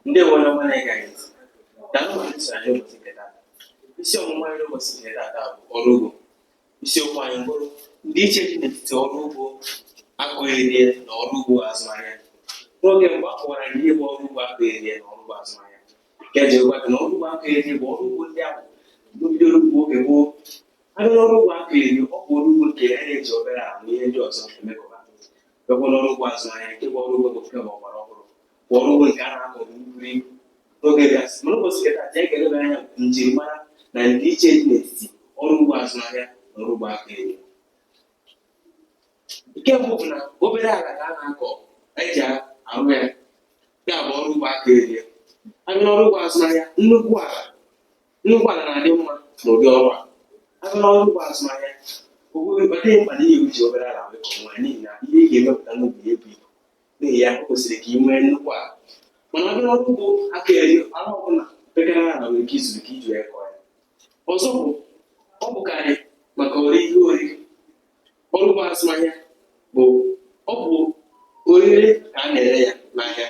ndị nwere ọma na-ege anyị ntị na ndị so anyị ụbọchị nke taa isi ọmụmụ anyị n'ụbọchị nke taa taa bụ ọrụ ugbo isiokwu anyị bụrụ ndị iche dị n'etiti ọrụ ugbo akọ erie na ọrụ ugbo azụmahịa n'oge mgbe a kọwara ihe bụ ọrụ ugbo akọ erie na ọrụ ugbo azụmahịa nke e ji gwa gị na ọrụ ugbo akọ erie bụ ọrụ ugbo ndị ahụ bidoro ugbo oge gboo abịa n'ọrụ ugbo akọ erie ọ bụ ọrụ ugbo nke a na-eji obere ala na ihe ndị ọzọ emekọba bịakwa n'ọrụ ugbo azụmahịa nke bụ ọrụ ugbo bụ nke ọgbara ọhụrụ bụ ọrụ ugbo nke a na-akọ nri n'oge gasị mana ụbọchị nke taa anyị ga-eleba anya njirimara na ndịiche dị n'etiti ọrụ ugbo azụmahịa na ọrụ ugbo akọ erie nke mbụ bụ na obere ala ka a na-akọ eji arụ ya ya bụ ọrụ ugbo akọ erie abịa n'ọrụ ugbo azụmahịa nnukwu ala Nnukwu ala na-adị mma n'ụdị ọrụ a. A bịa n'ọrụ ugbo azụmahịa, o nweghị ọ dịghị mkpa na ị ga-eji obere ala wee kọọ ya n'ihi na ihe ị ga-emepụta n'ubi ebu ibu. N'ihi ya, o kwesịrị ka ị nwee nnukwu ala. Mana a bịa n'ọrụ ugbo akọ erie, ala ọbụla pekara ala nwere ike izuru ka iji wee kọọ ya. Ọzọ bụ, ọ bụkarị maka ori ihe oriri. ọrụ ugbo azụmahịa bụ ọ bụ orire ka a na-ere ya n'ahịa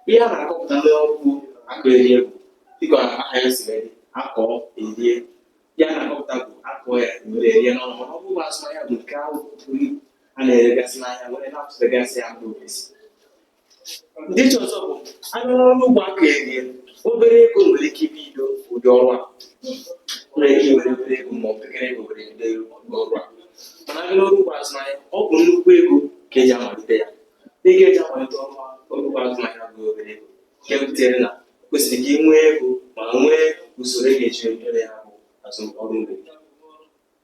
ihe a na-akọpụta n'ọrụ ugbo akọ erie bụ dịka aha ya siri dị akọ erie ihe a na-akọpụta bụ akọ ya were erie n'ọnụ mana ọrụ ugbo azụmahịa bụ nke ahụ a na-eregasị n'ahịa were na-atụtegasị ya mba ofesi ndị iche ọzọ bụ abịa n'ọrụ ugbo akọ erie obere ego nwere ike ibido ụdị ọrụ a nwere ike were obere ego ma ọ bụ obere ego were bido ọrụ a mana abịa n'ọrụ ugbo azụmahịa ọ bụ nnukwu ego ka eji amalite ya ego eji amalite ọrụ ọrụ ugbo azụmahịa abụghị obere ego nke butere na o kwesịrị ka ị nwee ego ma nwee usoro ị ga-eji eme ya bụ azụm ọrụ ugbo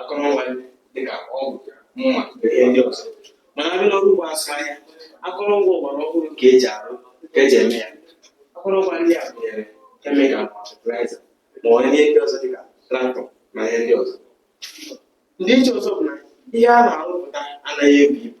akụrụngwa dịka ọgụ mma na ihe ndị ọzọ mana abịa n'ọrụ ugbo azụmahịa akụrụngwa ọgbara ọhụrụ ka eji arụ ka eji eme ya akụrụngwa ndị a gụnyere kemikal ma fatịlaịza ma ọ bụ ihe ndị ọzọ dịka traktọ na ihe ndị ọzọ ndị iche ọzọ bụ na ihe a na-arụpụta anaghị ebu ibu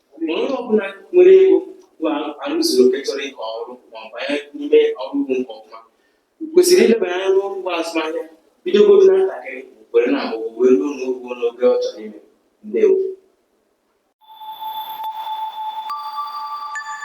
Ma onye ọbụla nwere ego ahụ zuru oke chọrọ ịkọ ọrụ ma ọ banye n'ime ọrụ ugbo nke ọma kwesịrị ilebara anya n'ọrụ ugbo azụmahịa bidogodo na ntakịrị were na-agbago wee ruo n'ogo n'ogo ọ chọrọ ime ndewo